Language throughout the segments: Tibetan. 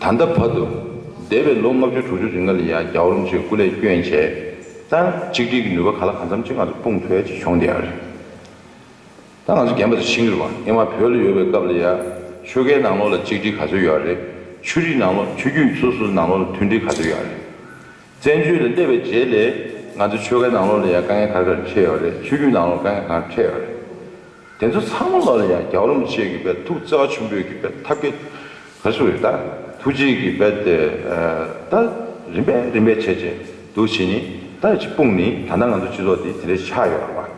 ད་ལྟ་བར་དུ། འདས་པའི་ལོ་ལྔ་བཅུ་དྲུག་ཅུ་རིང་ང་ལ་ཡང་རྒྱ་འུར་རམ་ཆེད་བཀུར་ལས་སྐྱོན་བྱས་ཙང་གཅིག་སྒྲིལ་གྱི་ནུས་པ་ག་ལ་གང་འཚམ་ཅིག་ང་ཚོར་སྤུངས་ཐུབ་ཡག་བྱུང་བསྡད་ཡག་རེད། ད་ང་ཚོ་རྒན་པ་དང་ཕྱི་འགྱུར་བ་ཨེ་མ་བོད་ལ་ཡོད་པའི་སྐབས་ལ་ཡང་ཆོལ་ཁའི་ནང་ལོགས་ལ་གཅིག་སྒྲིལ་ག་ཚོད་ཡོད་རེད། ཆོས་རིགས་ནང་ལོགས་ཆོས་རྒྱུད་སོ་སོ་ནང་ལོགས་ལ་མཐུན་སྒྲིལ་ག་ཚོད་ཡོད་རེད། བཙན་བྱོལ་ལ་སླེབས་པའི་རྗེས་ལས་ང་ཚོའི་ཆོལ་ཁའི་ནང་ལོགས་ལ་ཡང་དཀའ་ངལ་ག་རེ་ག་རེ་འཕྲད་ཡོད་རེད་ཆོས་བརྒྱུད་ནང་ལོགས་ལ་དཀའ་ངལ་ག་རེ་འཕྲད་ཡོད་རེད། དེ་ཚོ་ཚང་མ་ལོགས་ལ་ཡང་རྒྱག་རུང་བྱེད་གི་བལ་ཐུག་རྩེ་བ་ཆུན་པོས་གི་བལ་ཐབས་གི་བལ་སུ་རེད་ད་ཐུག་རྗེས་གི་བལ་དེ་ད་རིམ་པས་རིམ་པས་བྱས་བྱས་འདུག་བྱས་ནི་ད་ཅིག་སྤུངས་ནི་ད་ནང་ང་ཚོའི་སྤྱི་ཚོགས་འདི་དེ་འདྲས་ཆགས་ཡོད་རེད་བ།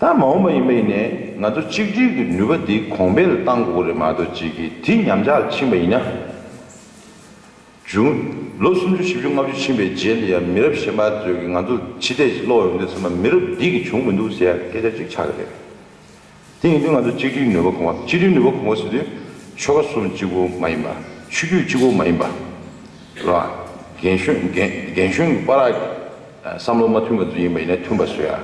ད་མ་འོངས་པ་ཡིན་པ་ཡིན་ནས་ང་ཚོ་གཅིག་སྒྲིལ་གི་ནུས་པ་འདི་གོང་འཕེལ་གཏང་དགོས་རེད་མ་གཏོགས་ཅིག་གི་དེ་ཉམས་ཆག་ཕྱིན་པ་ཡིན་ན། བྱུང། ལོ་སུམ་ཅུ་བཞི་བཅུ་ལྔ་བཅུ་ཕྱིན་པའི་རྗེས་ནས་ཡང་མི་རབས་གཞན་པ་ཚོས་ཀྱིས་ང་ཚོ་ཕྱི་བལྟས་ཀྱིས་ཀློག་ཡོང་དུས་ཚང་མ་མི་རབས་འདི་གིས་བྱུང་མི་འདུག་ཟེར་ཡག་སྐད་ཆ་ཅིག་ཆགས་ཀྱི་རེད། དེ་ཡིན་དུས་ང་ཚོ་གཅིག་སྒྲིལ་ནུས་པ་གོང་བ་གཅིག་སྒྲིལ་ནུས་པ་གོང་བ་ཟེར་དུས་ཆོལ་ཁ་གསུམ་གཅིག་པུ་མ་ཡིན་པ། ཆོས་བརྒྱུད་གཅིག་པུ་མ་ཡིན་པ། རེད་བ། རྒན་གཞོན་གྱི་པ་རག་གི། བསམ་བློ་མ་མཐུན་པ་འདི་ཡིན་པ་ཡིན་ན་མཐུན་པ་སོ་ཡ།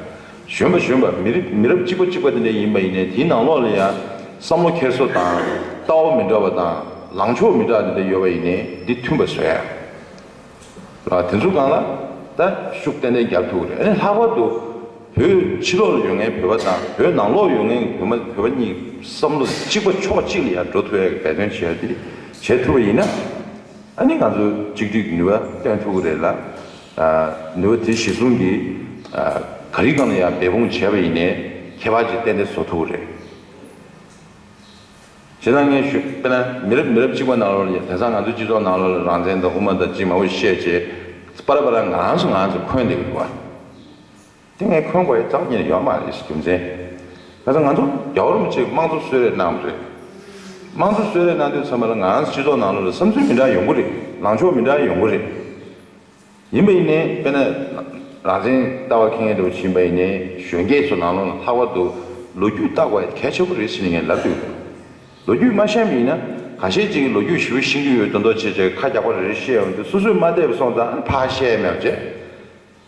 གཞོན་པ་གཞོན་པ་མི་རིགས་མི་རབས་གཅིག་པ་གཅིག་པ་དེ་འདྲ་ཡིན་པ་ཡིན་ནའི་དེའི་ནང་ལོགས་ལ་ཡང་བསམ་བློ་འཁྱེར་སོ་དང་ལྟ་བ་མི་འདྲ་བ་དང་ལངས་ཕྱོགས་མི་དྲག་དེ་འདྲ་ཡོད་པ་ཡིན་ནའི་འདི་མཐུན་པ་སོ་ཡ། ལ་དེ་ཚོ་གང་ལ་ད་ཤུགས་ཏན་ཏན་རྒྱབ་ཐུབ་ཀྱི་རེད་ཨ་ནི་ལྷག་པར་དུ་བོད་ཕྱི་ལོགས་ལ་ཡོད་ངའི་བོད་པ་དང་བོད་ནང་ལོགས་ཡོད་ངའི་བོད་མ་བོད་པ་གཉིས་བསམ་བློ་གཅིག་པ་ཕྱོགས་གཅིག་ལ་ཡང་འགྲོ་ཐུབ་ཡ་གི་འབད་བརྩོན་བྱེད་ཡ་དེ་བྱེད་ཐུབ་པ་ཡིན་ན་ཨ་ནི་ང་ཚོ་གཅིག་སྒྲིག་ནུས་པ་སྟོན་ཐུབ་ཀྱི་རེད་ལ། ནུས་པ་དེ་གཞི་བཟུང་གིས་ག་རིགས་གང་ལ་ཡང་འབད་འབུངས་བྱས་པ་ཡིན་ནས་ཁྱད་པར་གྱི་རྟེན་འབྲེལ་བཟོ་ཐུབ་པ་རེད། དེ་དང་ངས་ཞུ་དཔེར་ན་མི་རབས་མི་རབས་གཅིག་པ་ནང་ལོགས་ལ་དེང་སང་ང་ཚོའི་སྤྱི་ཚོགས་ནང་ལོགས་ལ་རང་བཙན་དང་དབུ་མ་དང་ཅི་མང་པོ་བཤད་ཅེས་པར་པར་ངང་སུ་ངང་སུ་འཁོད་འདེགས་འདུག་བ། དེ་ངས་འཁོན་དགོས་ཀྱི་རྒྱུ་ཡོད་མ་རེད་ཞེས་རྒྱུ་མཚན་ང་ཚོ་ང་ཚོ་རྒྱ་བོར་མི་གཅིག་དམངས་གཙོ་གསོད་རེས་གནང་བ་རེད། དམངས་གཙོ་གསོད་རེས་གནང་དུས་ཚང་མ་ལ་ང་རང་ཚོ་སྤྱི་ཚོགས་ནང་ལོགས་ལ་བསམ་ཚུལ་མི་འདྲ་ཡོང་གི་རེད་ལངས་ཕྱོགས་མི་འདྲ་ཡོང་གི་རེད། ཡིན་པ་ཡིན་ནའི་དཔེར་ན་རང་བཙན་ལྟ་བ་ཁེངས་འདུག་ཡིན་པ་ཡིན་ནའི་གཞོན་སྐྱེས་ཚོ་ནང་ལོགས་ལ་ལྷག་པར་དུ་ལོ་རྒྱུས་བལྟ་དགོས་གལ་ཆེ་པོ་རེད་ཞེས་ངས་ལབ་ཀྱི་འདུག་ལོ་རྒྱུས་མ་ཤེས་མི་ཡིན་ན་གང་བཤད་ཅིག་གིས་ལོ་རྒྱུས་ཞིབ་པོ་ཤེས་ཀྱི་ཡོད་དོན་ཐོག་བྱས་བྱས་ཁ་རྒྱག་པ་རེ་རེ་བཤད་འོང་དུས་སོ་སོས་མ་བལྟས་པ་སོང་ཙང་ཨ་ནི་ཕ་ཤེས་མེད་པ་བྱེད།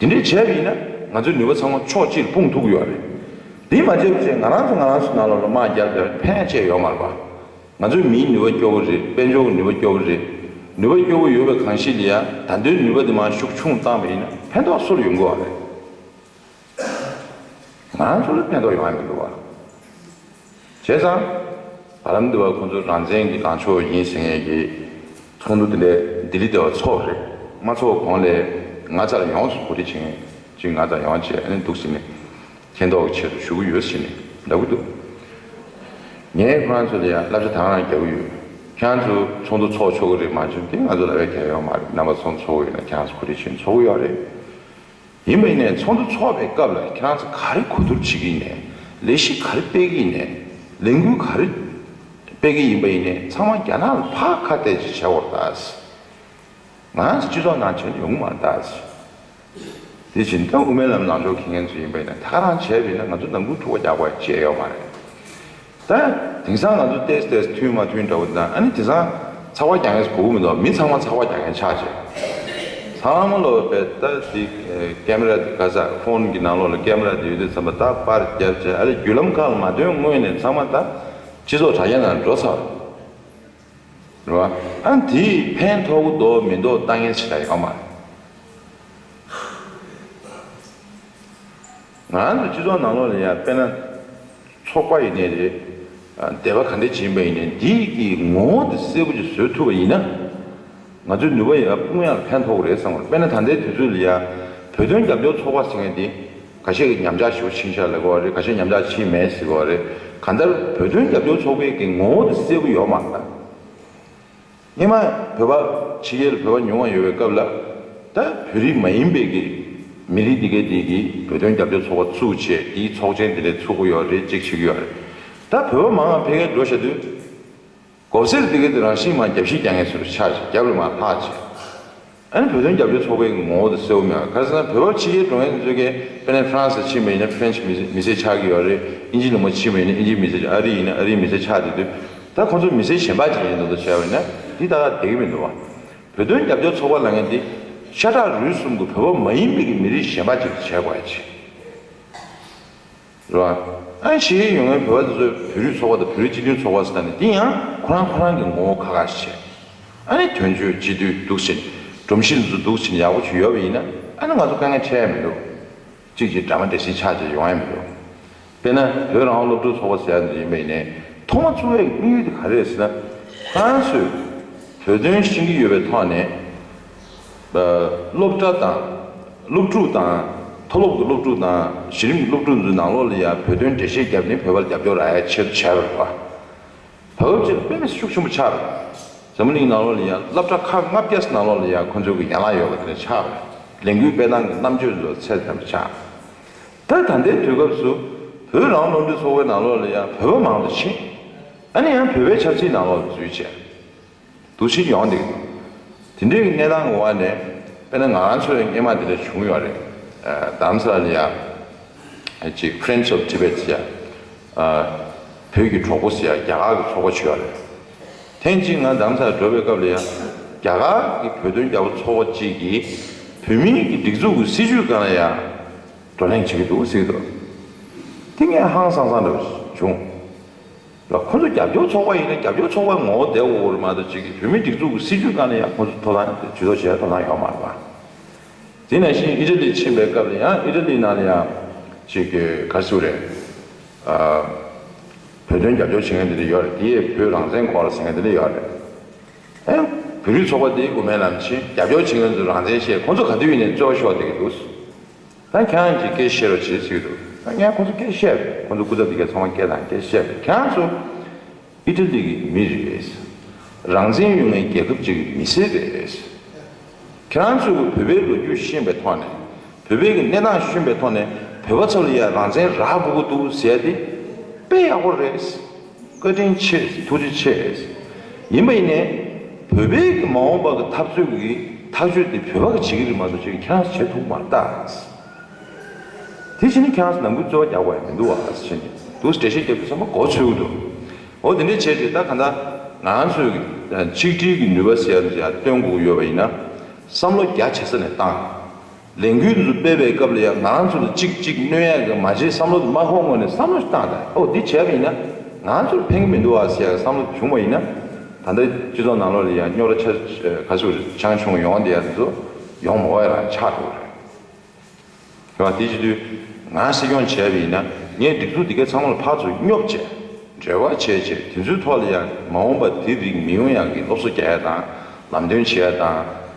དེ་འདྲས་བྱས་པ་ཡིན་ན་ང་ཚོའི་ནུས་པ་ཚང་མ་ཕྱོགས་གཅིག་ལ་སྤུངས་ཐུབ་ཀྱི་ཡོད་རེད། དེ་མ་བྱས་པའི་ཚེ་ང་རང་ཚོ་ང་རང་ཚོའི་ནང་ལ་ལོ་མང་བརྒྱབ་བསྡད་པའི་ཕན་ཆད་ཡོད་མ་རེད་པ། ང་ཚོའི་མིའི་ནུས་པ་སྐྱོ་བོ་རེད་དཔལ་འབྱོར་གྱི་ནུས་པ་སྐྱོ་བོ་རེད། ནུས་པ་སྐྱོ་བོ་ཡོད་པའི་གང་ཞིག་ལ་ཡང་ད་དུང་ནུས་པ་དེ་མང་ཤུགས་ཆུང་བཏང་བ་ཡིན་ན་ཕན་ཐོགས་སུ་ཡོང་གི་ཨང་རེད། ང་ཚོ་ལ་ཕན་ཐོགས་ཡོང་ཡ་མི་འདུག་བ། བྱས་ཙང་བར་རམ་དུ་བ་ཁོང་ཚོ་རང་བཙན་གྱི་ལངས་ཕྱོགས་ཡིན་ཟེར་མཁན་གྱི་ཚོགས་འདུ་དེ་ལས་ལྡི་ལི་དེ་བ་ཚོགས་རེད་མ་ཚོགས་གོང་ལས་ང་ཙར་ཡོངས་སུ་གོ་སྒྲིག་བྱེད་མཁན་གཅིག་ང་ཙར་ཡོངས་བྱས་ནས་འདུག་ཟེར་ནས་མཁྱེན་རྟོགས་ཀྱི་ཆེད་དུ་ཞུ་གི་ཡོད་ཟེར་ནས་ལབ་གི་འདུག་ངས་ཁོང་ཚོ་ལ་ཡང་བསླབ་བྱ་དང་རང་རྒྱག་གི་ཡོད་ཁྱེད་ཚོ་ཚོགས་འདུ་ཚོགས་ཆོག་གི་རེད་མ་བྱུང་དེ་ང་ཚོ་ལ་བས་གལ་ཡོད་མ་རེད་རྣམ་པ་ཚོགས་འདུ་ཚོགས་གི་ཡོད་ན་ཁྱེད་ཚོ་གོ་སྒྲིག་བྱེད་ཚོགས་གི་ཡོད་རེད་ཡིན་མིན་ནས་ཚོགས་འདུ་འཚོགས་པའི་སྐབས་ལ་ཁྱེད་རང་ཚོ་ག་རེ་གོ་བསྡུར་བྱེད་ཀྱི་ཡིན་ནས་ལས་གཞི་ག་རེ་སྤེལ་གྱི་ཡིན་ནས་ལས་འགུལ་ག་རེ་སྤེལ་གྱི་ཡིན་པ་ཡིན་ནས་ཚང་མ་རྒྱ་ནག་ལ་ཕག་ཁ་གཏད་ཅིག་བྱ་བར་གདའ། ང་རང་ཚོ་སྤྱི་ཚོགས་ནང་བྱས་ན་ཡོང་གི་མ་གདའ། དེ་བཞིན་དོན་དབུ་མའི་ལམ་ལངས་ཕྱོགས་མཁས་མཁན་ཚོ་ཡིན་པ་ཡིན་ན་ཐག་རང་བྱས་པ་ཡིན་ན་ང་ཚོ་ནང་ཁུལ་འཁྲུག་པ་རྒྱག་པ་བཅས་ཡོད་མ་རེད། ད་དེང་སང་ང་ཚོ་ཏེས་ཏེས་མཐུན་མ་མཐུན་འདྲ་བོ་དང་ཨ་ནི་དེང་སང་ཚགས་པར་རྒྱག་མཁན་གོ་བོ་མི་འདུག་མི་ཚང་མ་ཚགས་པར་རྒྱག་མཁན་ཆགས་རྗེས་ཚང་མ་ལོ་པས་ད་དེ་ཀེ་མེ་ར་དེ་ག་ས་ཕོན་གི་ནང་ལོགས་ལ་ཀེ་མེ་ར་དེ་ཡོད་དུས་ཚང་མ་ད་པར་བརྒྱབ་རྗེས་ཨ་རེ་བརྒྱུད་ལམ་ཁག་ལ་མ་ཐོན་སྔོན་ནས་ཚང་མ་ད་སྤྱི་ཚོགས་དྲ་རྒྱ་ནང་འགྲོ་ཚར་རེད་བ། ཨ་ནི་དེས་ཕན་ཐོག་གི་འདོག་མི་འདོག་ལྟ་ངན་ཆེ་ད་ཡག་མ་རེད། ང་རང་ཚོའི་སྤྱི་ཚོགས་ནང་ལོགས་ལ་ཡང་དཔེར་ན། ཚོགས་པ་ཡིན་ནའི་རེད། དད་པ་ག་འདྲས་བྱིན་པ་ཡིན་ནའི་འདི་ཀྱི་ངོ་བོ་འདི་གསལ་པོ་ཅིག་བཟོས་ཐུབ་པ་ཡིན་ན། ང་ཚོའི་ནུས་པ་ཡང་དཔུང་ཡང་ཕན་ཐོགས་རེད་བསམ། དཔེར་ན་ད་ལྟའི་དུས་ཚོད་ལ་ཡང་བོད་དོན་རྒྱབ་སྐྱོར་ཚོགས་པ་ཟེར་མཁན་དེ། ག་ཤེད་ཉམས་ཆག་ཞིག་ཕྱིན་ཤག་ལེགས་པ་རེད་ག་ཤེད་ཉམས་ཆག་ཕྱིན་མེད་ཟིག་པ་རེད། གང་ལྟར་བོད་དོན་རྒྱབ་སྐྱོར་ཚོགས་པའི་ཀྱི་ངོ་བོ་འདི་གསལ་པོ་ཡོད་མ་རེད། སྔོན་མ་བོད་པ་ཕྱི་རྒྱལ་ལ་བོད་པ་ཉུང་བ་ཡོད་པའི་སྐབས་ལ། ད་བོད་རིགས་མ་ཡིན་པའི་གི་མི་རིགས་འདི་གའི་དེ་གི་བོད་དོན་རྒྱབ་སྐྱོར་ཚོགས་པ་བཙུགས་ཆེད་དེའི་ཚོགས་ཆེན་དེ་ལས་ཚུགས་གི་ཡོད་རེད་ཅེས་བྱེད་ཀྱི་ཡོད་རེད། ད་བོད་པ་མང་ང་ཕལ་ཁའི་འགྲོ་བཤད་དུས། གོབ་སེར་དེ་གའི་དེ་རང་ཤི་མ་རྒྱབ་ཤི་རྒྱ་ངན་སུ་རུ་ཆགས་ཤིག་རྒྱབ་ལ་མ་ལྷག་ཅེས། ཨ་རིའི་བོད་དོན་རྒྱབ་སྐྱོར་ཚོགས་པའི་ངོ་བོ་དེ་སེའུ་མྱང་གྷ་ཟི་ཐང་བོད་བར་ཕྱི་རྒྱལ་འགྲོ་མཁན་གཙོས་ཀའེ་པེ་ནན French ལ་ཕྱིན་པ་ཡིན་ན French མི་སེར་ཆགས་ཀྱི་ཡོད་རེད་ཨིན་ཇིའི་ལུང་པ་ཕྱིན་པ་ཡིན་ན་ཨིན་ཇིའི་མི་སེར་ཆགས་ཨ་རིའི་ཡིན་ན་ཨ་རིའི་མི་སེར་ཆགས་དེ་དུས་ད་ཁོང་ཚོ་མི་སེར་གཞན་པ་ཅིག་ཡིན་འདུག་ད་བྱས་པ་ཡིན་ན་འདི་ད་ག་དེ་གི་མི་འདུག་བ། བོད་དོན་རྒྱབ་སྐྱོར་ཚོགས་པ་ལ་ངས་འདི་ཤ་ཁྲག་རུས་གསུམ་གི་བོད་པ་མ་ཡིན་པའི་གི་མི་རིགས་གཞན་པ་ཅིག་ཏུ་བྱས་དགོས་ཡ་ཆེ། རེད་བ། གཞིས་ཀའི་ཡུལ་དངོས་བོད་པ་དེ་ཚོས་བོད་རིགས་ཚོགས་པ་དང་བོད་རིགས་སྤྱི་མཐུན་ཚོགས་པ་ཟེར་ནས་དེ་ཡང་ཁོ་རང་ཁོ་རང་གི་ངོ་བོ་ཁ་ཁ་ཞིག་བྱས། ཨ་ནི་དོན་གཅོད་སྤྱི་འཐུས་འདུག་ཕྱིན། སྒྲོམ་གཞིར་འདི་ཚོ་འདུག་ཕྱིན་ཡག་པོ་བྱུས་ཡོད་པ་ཡིན་ན་ཨ་ནི་ང་ཚོ་དཀའ་ངལ་འཕྲད་ཡ་མི་འདུག། གཅིག་གཅིག་འདྲ་མ་འདྲ་ཞིག་ཆགས་ཆགས་ཡོང་ཡ་མི་འདུག། དཔེར་ན་བོད་རང་དབང་སློབ་ཕྲུག་ཚོགས་པ་ཟེར་ཡ་འདི་ཡིན་པ་ཡིན་ནའི་ཐོག་མ་ཚུགས་པའི་དམིགས་ཡུལ་དེ་ག་རེད་ཟེར་ན། ཁོ་རང་ཚོས་བོད་དོན་ཤེས་ཀྱི་ཡོད་པའི་ཐོག་ནས། སློབ་གྲྭ་དང། སློབ་ཕྲུག་དང། མཐོ་སློབ་ཀྱི་སློབ་ཕྲུག་དང་གཞི་རིམ་གྱི་སློབ་ཕྲུག་འཛིན་ནང་ལོགས་ལ་ཡང་བོད་དོན་འགྲེལ་བཤད་བརྒྱབ་ནས་བོད་པར་རྒྱབ་སྐྱོར་རག་ཡ་ཆེར་བྱས་པར། བོད་བར་ཆེར་དཔེ་མེད་ཤུགས་ཆེན་པོ་ཆགས་པས། ཟམ་གླིང་ནང་ལོགས་ལ་ཡང་བསླབ་གྲྭ་ཁག་ལྔ་བརྒྱ་ཟིན་ནང་ལོགས་ལ་ཡང་ཁོ་ཚོའི་གི་ཡན་ལག་ཡོད་པ་དེ་ལ་ཆགས་པས་ལས་འགུལ་སྤེལ་སྟངས་ཀྱི་རྣམ་དཔྱོད་ཚོ་ཚད་ལྡན་པ་ཆགས། ད་ད་ལྟའི་དུས་སྐབས་སུ། བོད་རང་སློབ་འབྲིང་ཚོགས་པའི་ནང་ལོགས་ལ་ཡང་བོད་པ་མང་དུ་ཕྱིན། ཨ་ནི་ཡང་བོད་པའི་ཆབ་སྲིད་ནང་ལོགས་ལ་འཛུལ་བྱས། འདུ་བྱེད་ཡོང་སྟེ། དེ་འདྲའི་གནས་སྟངས་ཀྱི་དབར་ནས་དཔེར་ན་ང་ཚོའི་སྙེ་མ་དེ་འདྲ་བྱུང་ཡོད་རེད། དཱམ་སཱ་ལི་ཡ་གཅིག Friends of Tibet ཡ། བོད་ཀྱི་གྲོགས་པོ་ཡ་རྒྱ་གར་གྱི་ཚོགས་པ་བྱས་ཡོད་རེད། ཐེངས་གཅིག་ང་དཱམ་སཱ་ལི་འགྲོ་བའི་སྐབས་ལ་ཡ། རྒྱ་གར་གྱི་བོད་དོན་རྒྱ་བོད་ཚོགས་པ་གཅིག་གིས་བོད་མིའི་གྱི་སྒྲིག་འཛུགས་ཀྱི་སྲིད་བྱུས་གང་ལ་ཡ། བགྲོ་གླེང་བྱེད་ཀྱི་འདུག་ཟེར་གྱི་འདུག། དེ་ངས་ཧང་སང་སང་འདྲ་བྱུང། ལ་ཁོ་ཚོ་རྒྱབ་སྐྱོར་ཚོགས་པ་ཡིན་ན་རྒྱབ་སྐྱོར་ཚོགས་པའི་ངོ་བོ་བདེ་བོ་བོར་མ་གཏོགས་བྱེད་མཁན་བོད་མིའི་སྒྲིག་འཛུགས་ཀྱི་སྲིད་བྱུས་དཀའ་ན་ཡང་ཁོ་ཚོ་ཐོབ་ཐང་ཇུས་གཏོགས་བྱེད་ཐོབ་ཐང་ཡོད་མ་རེད་པ། དེ་ནས་བཞིན་ཨི་ར་ལི་ཕྱིན་པའི་སྐབས་ལ་ཡང་ཨི་ར་ལི་ནང་ལ་ཡང་གཅིག་གི་ག་ཚོད་རེད། བོད་དོན་རྒྱབ་སྐྱོར་བྱེད་མཁན་དེ་འདྲ་ཡོད་རེད་དེ་ཡས་བོད་རང་བཙན་སྐོར་ལ་ཟེར་མཁན་དེ་འདྲ་ཡོད་རེད། ཨེ། བོད་རིགས་ཚོགས་པ་དེའི་དབུ་མའི་ལམ་ཆེན་རྒྱབ་སྐྱོར་བྱེད་མཁན་ཚོ་རང་བཙན་བཤད་ཁོ་ཚོ་ག་དུས་ཡིན་ནས་རྩོད་པ་ཤོག་བསྡད་ཀྱི་འདུག། ད་གྱང་གྱི་སྐད་བཤད་རོགས་བྱེད་ཚིག་རོགས་ངས་ཁོ་ཚོ་སྐད་བཤད་རེད་ཁོ་ཚོ་སྐུ་ཚབ་འདི་གས་ཚང་མ་སྐད་དང་སྐད་བཤད་རེད་གྱང་ཚོ་ཨི་ཏྲ་ལི་གི་མི་རེད་རང་བཙན་ཡོད་ངའི་རྒྱལ་ཁབ་ཅིག་གི་མི་སེར་རེད་གྱང་ཚོས་ཀྱི་བོད་པའི་ལོ་རྒྱུས་ཤེས་པའི་ཐོག་ནས་བོད་པའི་གི་གནས་སྟངས་ཤུན་པའི་ཐོག་ནས་བོད་པ་ཚོ་ལ་ཡང་རང་བཙན་རག་དགོས་ཀྱི་འདུག་ཟེར་ཡ་དེ་དཔེ་ཡག་པོ་རེད། བཀའ་དྲིན་ཆེ་ཐུགས་རྗེ་ཆེ། ཡིན་པ་ཡིན་ནས། བོད་པའི་གི་མ་འོངས་པ་གི་འཐབ་རྩོད་གི་ཐག་གཅོད་དེ་བོད་པ་གི་བྱེད་གི་རིག་མ་གཏོགས་བྱེད་གི་ཁྱེད་རང་བྱེད་ཐུབ་མ་རྟ། དེ་བྱེད་ནས་ཁྱེད་རང་ནང་ཁུལ་རྩོད་བ་རྒྱག་པ་ཡང་མི་འདུག་བ་བྱེད་ནས་འདུག་འགྲེལ་བཤད་རྒྱབ་རྒྱུ་ཚང་མ་གོ་ཆོད་གི་འདུག་འོ་དེ་འདྲ་བྱས་རྗེས་ད་ག་འདྲ་ང་ཚོས་གི་ཆིག་སྒྲིལ་གི་ནུས་པ་ཟེར་བ་འདི་ཡང་སྟོན་དགོས་ཀྱི་ཡོད་པ་ཡིན་ན་བསམ་བློ་རྒྱ་ཆེ་ས་ནས་བཏང། ལས་འགུལ་འདི་སྤེལ་བའི་སྐབས་ལ་ཡང་ང་རང་ཚོ་ལ་ཅིག་ཅིག་གནོད་ཡག་གི་མ་བྱེད་བསམ་བློ་དེ་དམག་ཁོངས་ངོས་ནས་བསམ་བློ་ཞིག་བཏང་སྟེ་ཨོ་འདི་བྱས་པ་ཡིན་ན་ང་ཚོར་ཕན་གྱི་མི་འདུག་ཨ་ཟེར་ཡག་གི་བསམ་བློ་དེ་བྱུང་བ་ཡིན་ན་ད་ལྟ་སྤྱི་ཚོགས་ནང་ལོགས་ལ་ཡང་རྙོག་དྲ་ཆགས་ཆུ་ཆང་ཆུང་ཡོང་བ་འདི་ཡང་དེ་ཚོ་ཡོང་མ་བ་ཡང་ཆགས་འགྲོ་གི་རེད། དེ་བྱེད་དུས་ང་སྲིད་སྐྱོང་བྱས་པ་ཡིན་ན་ངས་སྒྲིག་འཛུགས་འདི་ག་ཚང་མ་ལ་ཕར་ཚུར་སྙོབ་བྱས་འབྲེལ་བ་བྱས་བྱས་དེ་ཚོའི་ཐོག་ལ་ཡང་མ་འོངས་པ་དེ་རིགས་མི་ཡོང་ཡག་གི་སློབ་གསོ་རྒྱག་ཡག་དང་ལམ་སྟོན་བྱེད་ཡག་དང།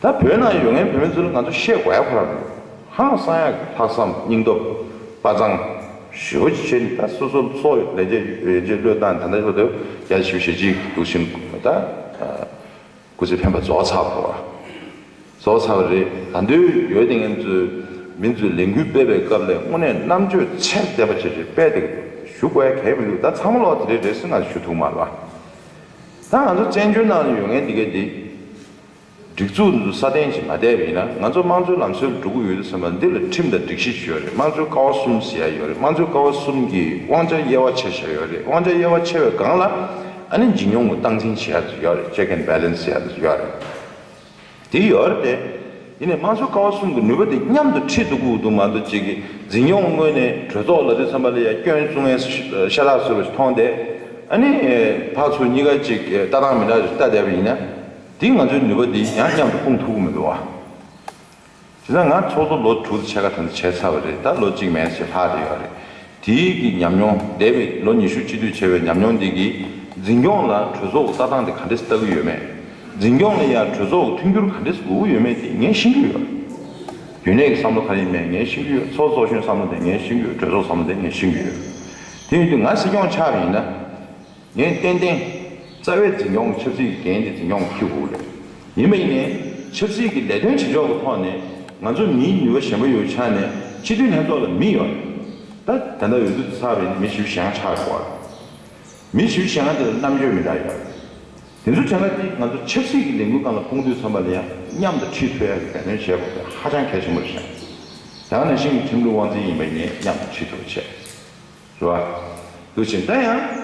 ད་བོད་ནང་ཡོད་མཁན་བོད་མི་ཚོ་ལ་ང་ཚོ་བཤད་དགོས་ཁོ་ནར་འདུག་ཧང་བསངས་ཡག་གི་ལྷག་བསམ་སྙིང་སྟོབས་དཔའ་མཛངས། ཞི་བ་ཅིག་བྱེད་ནི་ད་སོ་སོ་ཚོ་ལས་འཇས་འཇས་འཇས་བློས་བཏང་དེ་འདྲ་བྱེད་པ་དེ་ཡག་ཞི་བ་བྱེད་ཅིག་དུག་གསུམ་ད་སྐུ་ཚེ་འཕེན་པ་རྫོགས་ཚར་བ་རྫོགས་ཚར་བ་རེད་ད་འདོད་ཡོད་དེ་ངན་ཚོས་མི་ཚོས་ལས་འགུལ་སྤེལ་བའི་སྐབས་ལས་དངོས་གནས་རྣམ་དཔྱོད་ཚད་ལྡན་པ་ཅིག་རེ་སྤེལ་དེ་ཞུ་དགོས་ཡ་གལ་མི་འདུག་ད་ཚང་མ་ལོག་དེ་རེད་རེད་སུས་ང་ཞུ་ཐུག་མ་ལ། ད་ང་ཚོ་བཙན་བྱོལ་ནང་དུ་ཡོད་མཁན་འདི་གའི་འདི། སྒྲིག་འཛུགས་འདི་ཚོ་སྲ་བརྟན་བྱེད་མ་བསྡད་པ་ཡིན་ན་ང་ཚོ་དམངས་གཙོའི་ལམ་སྲོལ་འགྲོ་གི་ཡོད་དུ་སེམས་པ་འདི་ལ་ཁྲིམས་དང་སྒྲིག་གཞི་ཞུ་ཡ་རེད་དམངས་གཙོའི་ཀ་བ་གསུམ་ཟེར་ཡ་ཡོད་རེད་དམངས་གཙོའི་ཀ་བ་གསུམ་གྱི་དབང་ཆ་དབྱེ་བ་ཕྱེ་བཞག་ཡོད་རེད་དབང་ཆ་དབྱེ་བ་ཕྱེ་བའི་སྒང་ལ་ཨ་ནི་འཇིགས་ཉོང་གི་སྟངས་འཛིན་བྱེད་ཡ་དུ་ཡོད་རེད Check and Balance བྱེད་ཡ་དུ་ཡོད་རེད། དེའི་འོག་ནས། འདི་ནས་དམངས་སྲོལ་ཀ་བ་གསུམ་གྱི་ནུས་པ་དེ་མཉམ་དུ་ཁྲིད་འདུག་ཁུག་འདུག་མ་འདུག་ཅིག་འཛིན་སྐྱོང་དངོས་ནས་གྲོས་ཚོགས་ལ་དུས་འཚམ་པ་ལ་ཡ་སྐྱོན་བཙུགས་ངན་ཤ་ཏག་ཟེར་བ་ཞིག་མཐོང་སྟེ། ཨ་ནི། ཕག་ཚོ་གཉིས་ཀ་ཅིག་ལྟ་སྟངས་མི་འདྲ་བ་ཞིག་ལྟ་བསྡད་པ་ཡིན་ན། དེ་ང་ཚོའི་ནུས་པ་དེ་ཡང་མཉམ་དུ་སྤུངས་ཐུབ་ཀྱི་མི་འདུག་བ། དེ་ན་ང་ཚོགས་གཙོ་ལོ་དྲུག་ཕྱེད་ཀ་དེ་འདྲ་བྱས་ཚར་བ་རེད་ད་ལོ་གཅིག་མན་ཆད་ལྷག་རེ་ཡོད་རེད། དེའི་གི་ཉམས་མྱོང་འདས་པའི་ལོ་ཉི་ཤུ་གཅིག་སྡུད་བྱས་པའི་ཉམས་མྱོང་འདི་གི་འཛིན་སྐྱོང་ལ་གྲོས་ཚོགས་ལྟ་སྟངས་དེ་ག་འདྲེས་ལྟ་གི་ཡོད་མེད། འཛིན་སྐྱོང་ལ་ཡང་གྲོས་ཚོགས་ཀྱི་མཐུན་འགྱུར་ག་འདྲེས་དགོས་ཀྱི་ཡོད་མེད་དེ་ངས་ཤེས་ཀྱི་ཡོད། རྒྱུན་ལས་ཀྱི་བསམ་བློ་ག་ཡིན་མེད་ངས་ཤེས་ཀྱི་ཡོད་ཚོགས་གཙོ་གཞོན་བསམ་བློ་དེ་ངས་ཤེས་ཀྱི་ཡོད་གྲོས་ཚོགས་བསམ་བློ་དེ་ངས་ཤེས་ཀྱི་ཡོད། དེ་ཡིན་དུས་ང་སྲིད་སྐྱོང་ཆགས་པ་ཡིན་ན། ངས་ཏན་ཏན། རྩ་བའི་འཛིན་སྐྱོང་གི་ཆབ་སྲིད་ཀྱི་འགན་དེ་འཛིན་སྐྱོང་གི་ཁྱི་གུ་རེད། ཡིན་པ་ཡིན་ནའི། ཆབ་སྲིད་ཀྱི་ལས་དོན་བྱེད་ཕྱོགས་ཀྱི་ཐོག་ནས། ང་ཚོ་མིའི་ནུས་པ་གཞན་པ་ཡོད་ཆགས་ནས་སྤྱི་འཐུས་ལྷན་ཚོགས་ལ་མི་ཡོད། ད་དེ་འདྲ་ཡོད་དུས་ཚར་བས་ནི་མི་ཞིའུ་ཞང་ཆགས་ཡོད་པ་རེད། མི་ཞིའུ་ཞང་དེ་ལ་རྣམ་དཔྱོད་མི་འདྲ་ཡོད། དེ་ཚོ་དྲན་ལ་དེ་ང་ཚོ་ཆབ་སྲིད་ཀྱི་ལས་འགུལ་ཁང་ལ་སྤུངས་དུས་ཚང་མ་ལ་ཡང་མཉམ་དུ་ཁྲིད་ཐུབ་ཡག་གི་འབད་བརྩོན་བྱེད་དགོས་པས་ཧ་ཅང་གལ་ཆེན་པོ་རེད་བཞག། ཡང་ན་ཤིང་གི་ཁྲིམས་ལུགས་དབང་འཛིན་ཡིན་པ་ཡིན་ནའི་མཉམ་དུ་ཁྲིད་ཐུབ་པ་བྱེད། རུ་བ། དུ་བྱེད་ན་ཡང།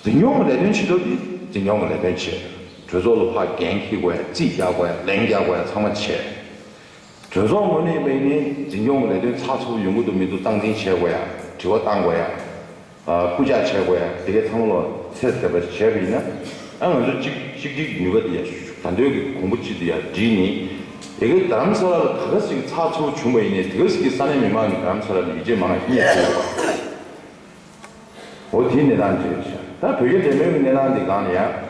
འཛིན་སྐྱོང་གི་ལས་དོན་བྱེད་སྐབས་ཀྱི་འཛིན་སྐྱོང་གི་ལས་དོན་བྱེད། གྲོས་ཚོགས་ལ་ཕ་རྒན་ཁྱི་དགོས་རྩིས་རྒྱག་དགོས་ལན་རྒྱག་དགོས་ཚང་མ་བྱེད། གྲོས་ཚོགས་དངོས་གནས་དམིགས་ནས་འཛིན་སྐྱོང་གི་ལས་དོན་ཚགས་ཚུད་ཡོང་གི་འདུག་མི་འདུག་སྟངས་འཛིན་བྱེད་དགོས་ཡ། དྲི་བ་བཏང་དགོས་ཡ། སྐུལ་ལྕག་བྱེད་དགོས་ཡ་དེ་གས་ཚང་མ་ལ་ཚད་ཟེར་བ་ཞིག་བྱས་པ་ཡིན་ན། ང་ཚོ་གཅིག་གཅིག་གཅིག་གི་ནུས་པ་དེ་ཡ། ག་འདོད་ཀྱི་གོང་བུ་གཅིག་དེ་ཡ་བསྒྲིལ་ནས། དེ་གའི་དར་རམ་ས་ལ་ལ་ད་ག་ཟིག་གི་ཚགས་ཚུད་བྱུང་བ་ཡིན་ནས་དེ་ག་ཟིག་གི་ས་གནས་མི་མང་གི་དར་རམ་ས་ལ་ནི་ཡུལ་ཆེས་མང་ན་ཤིན་ཏུ་ཆེ་བའི་བར་ཡིན། འོ་དེའི་གནས་སྟངས་ཅི་རེད་བྱ། ད་བོད་རྒྱ་འབྲེལ་མོལ་གི་གནས་སྟངས་འདི་སྒང་ནས་ཡང།